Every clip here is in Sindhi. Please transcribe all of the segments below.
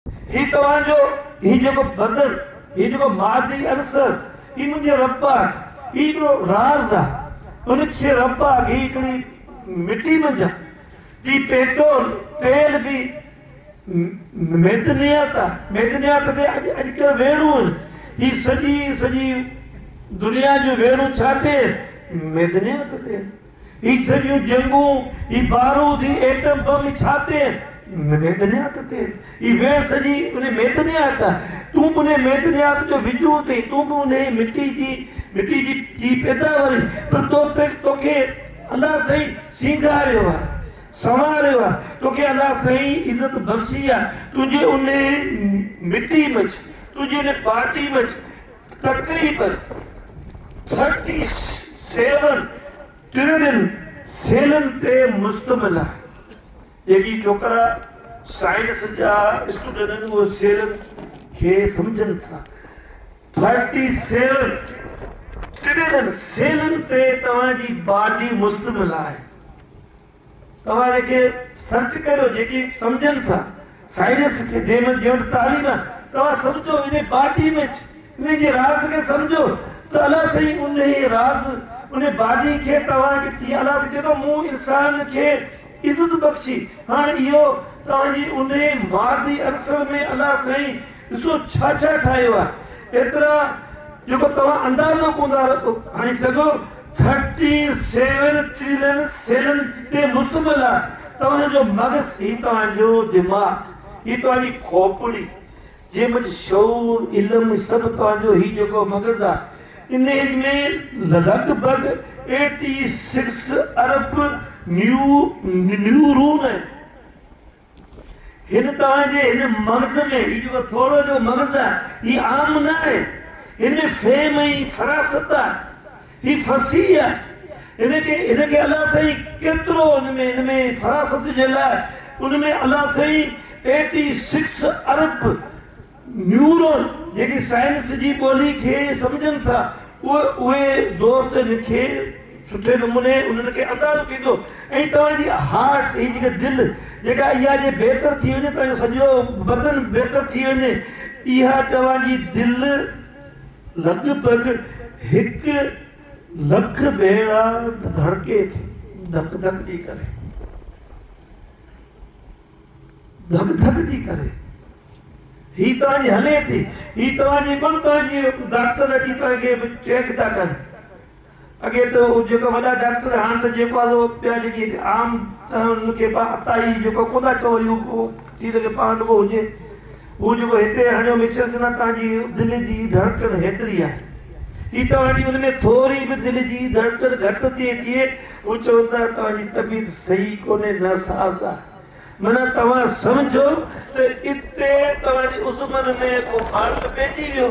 هي توهان جو، هي جيڪو بدن، هي جيڪو مادي عنصر، هي منهنجي رب پاڪ، هي هڪڙو راز آ، ان ڇي رب پاڪ، هي هڪڙي مٽي منجهان ٽي پيٽول، تيل به معدنيات آ، معدنيات تي اڄ اڄڪلهه ويڙهون آهن، هي سڄي سڄي دنيا جون ويڙهون ڇا تي آهن؟ معدنيات تي آهن. هي سڄيون جنگون، هي بارود، هي ايٽم بم، هي ڇا تي آهن؟ ميدنيات تي آهن. هي ويهه سڄي انهي ميدنيات آهي. تون به انهي ميدنيات جو وجود آهين. تون به انهي مٽي جي مٽي جي جي پيداوار آهين. پر تو تي توکي الله سائين سينگاريو آهي. سنواريو آهي. توکي الله سائين عزت بخشي آهي. تنهنجي انهي مٽي منجهه، تنهنجي انهي پارٽي منجهه تقريبن ٿرٽي سيون ٽريلين سيلن تي مشتمل آهي جيڪي ڇوڪرا سائنس جا اسٽوڊنٽ آهن اهي سيلن کي سمجهن ٿا ٿرٽي سيون ٽريلين سيلن تي توهان جي باڊي مشتمل آهي توهان ان کي سرچ ڪريو جيڪي سمجهن ٿا سائنس کي ديمن جي وٽ تعليم آهي توهان سمجهو ان باڊي ۾ ڇ ان جي راز کي سمجهو ته الله سائين انهي راز ان باڊي کي توهان کي ٿي الله سائين چي ٿو مون انسان کي عزت بخشي هاڻ اهو توهان جي انهي مادي عنصر ۾ الله سائين ڏسو ڇا ڇا ٺاهيو آهي ايترا جيڪو توهان اندازو ڪون ٿا هڻي سگهو ٿرٽي سيون ٽريلين سيلن تي مشتمل آهي توهان جو مغز هي توهان جو دماغ هي توهان جي کوپڙي جنهن منجهه شعور علم سڀ توهان جو هي جيڪو مغز آهي ان ۾ لڳ ڀڳ ايٽي سڪس ارب نيو نيورون آهن هن توهان جي هن مغز ۾ هي جيڪو ٿورو جو مغز آهي هي عام نه آهي هن ۾ فهم ۽ فراست آهي هي فصيح آهي هن کي هن کي الله سائين ڪيترو هن ۾ هن ۾ فراست جي لاء ان ۾ الله سائين ايٽي سڪس ارب نيورون جيڪي سائنس جي ٻولي کي سمجهن ٿا اهي دوست هن کي سٺي نموني انهن کي اندازو ٿيندو ۽ توهان جي هارٽ هي جيڪي دل جيڪا اها جي بهتر ٿي وڃي توهان جو سڄو بدن بهتر ٿي وڃي اها توهان جي دل لڳ ڀڳ هڪ لک ڀيرا ڌڙڪي ٿي ڌڪ ڌڪ جي ڪري. ڌڪ ڌڪ ٿي ڪري. هي توهان جي هلي ٿي. هي توهان جي ٻه توهان جي ڊاڪٽر اچي توهان کي چيڪ ٿا ڪن. اڳي ته جيڪا وڏا ڊاڪٽر هاڻ ته جيڪو آهي ٻيا جيڪي عام ته هن کي عطائي جيڪو ڪونه ٿا چئون وري هو ٿي سگهي پاڻ رڳو هجي. هو جيڪو هتي هڻيو مشن سنا توهان جي دل جي ڌڙڪڻ هيتري آهي هي توهان جي ان ۾ ٿوري به دل جي ڌڙڪڻ گهٽ ٿئي ٿئي مون چون ته توهان جي طبيعت صحيح ڪونهي ناساز آهي معنيٰ توهان سمجهو ته اتي توهان جي عضون ۾ ڪو فالٽ پئجي ويو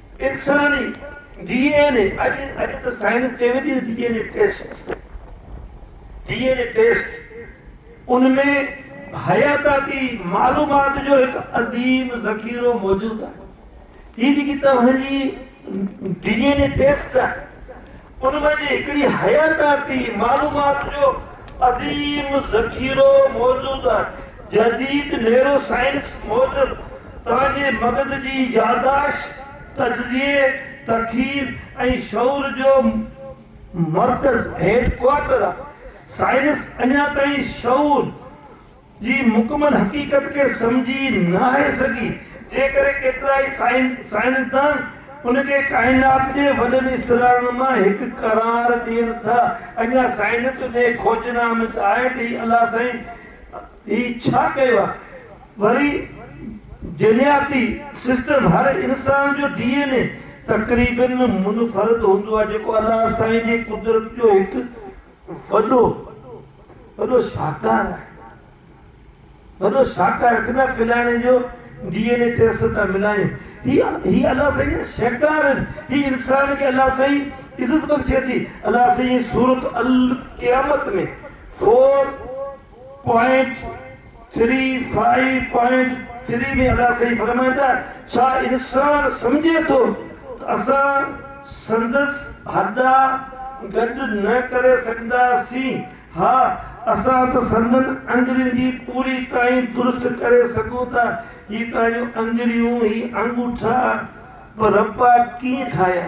انساني ڊي اين اي اڄ اڄ ته سائنس چوي ٿي نه D N A test D N A test ان ۾ حياتاتي معلومات جو هڪ عظيم ذخيرو موجود آهي هي جيڪي توهان جي ڊي اين اي ٽيسٽ آهي ان مان جي هڪڙي حياتياتي معلومات جو عظيم ذخيرو موجود آهي. جديد نيورو سائنس موجب توهان جي مغز جي ياداشت، تجزيي، تخيل ۽ شعور جو مرڪز، هيڊ ڪوارٽر، آهي. سائنس اڃا تائين شعور، جي مڪمل حقيقت کي سمجهي نه آهي سگهي، جنهن ڪري ڪيترائي سائنسدان ان کي ڪائنات جي وڏن اسرارن مان هڪ قرار ڏين ٿا. اڃا سائنس انهيء کوجنا ۾ ته آهي ته هي الله سائين هي ڇا ڪيو آهي؟ وري جينياتي سسٽم هر انسان جو ڊي اين اي تقريبن منفرد هوندو آهي، جيڪو الله سائين جي قدرت جو هڪ وڏو وڏو شاهڪار آهي وڏو شاهڪار چوندو آهي فلاڻي جو ڊي اين اي ٽيسٽ تان ملايون هي هي الله سائين شاهڪار آهن هي انسان کي الله سائين عزت بخشي ٿي الله سائين سورت القيامت ۾ four point three five point three ۾ الله سائين فرمائن ٿا ڇا انسان سمجهي ٿو ته اسان سندس هڏا گڏ نه ڪري سگهنداسين؟ ها اسان ته سندن اڱرين جي پوري تائين درست ڪري سگهون ٿا. هي تنهنجون اڱريون، هي آڱوٺا به ربا ڪيئن ٺاهيا؟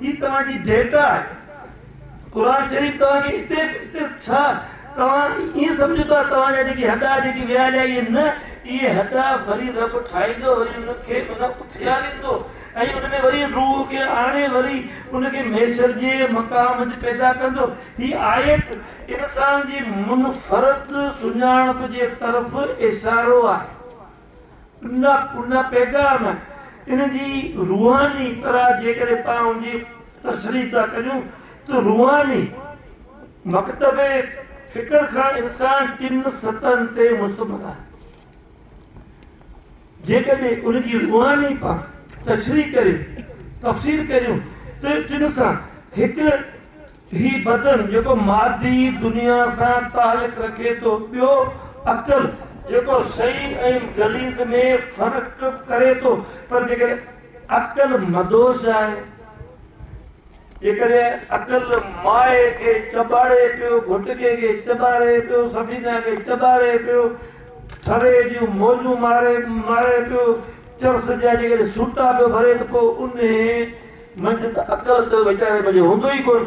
هي توهان جي ڊيٽا آهي قرآن شريف توهان کي اتي اتي ڇا توهان ائين سمجهو ته توهان جا جيڪي هڏا جيڪي ويال آهي نه اهي هڏا وري رب ٺاهيندو وري ان کي ان اٿياريندو ۽ ان ۾ وري روح کي آڻي وري ان کي ميسر جي مقام تي پيدا ڪندو هي آيت انسان جي منفرد سڃاڻپ جي طرف اشارو آهي ان پيغام ان جي روحاني طرح جيڪڏهن پاڻ ان جي تشريح ٿا ڪريون ته روحاني مڪتب فڪر کان انسان ٽن سطحن تي مشتمل آهي. جيڪڏهن ان جي روحاني پاڻ تشريح ڪريون، تفسير ڪريون ته ٽن سان هڪ هي بدن جيڪو مادي دنيا سان تعلق رکي ٿو، ٻيو عقل جيڪو صحيح ۽ غليظ ۾ فرق ڪري ٿو، پر جيڪڏهن عقل مدهوش آهي، جيڪڏهن عقل مائي کي چٻاڙي پيو، گهٽڪي کي چٻاڙي پيو، سفينه کي چٻاڙي پيو، ٿري جون موجون ماري ماري پيو، چرس جا جيڪڏهن سوٽا پيو ڀري ته پوء انهي منجهه ته عقل ته ويچاري منجهه هوندو ئي ڪونه.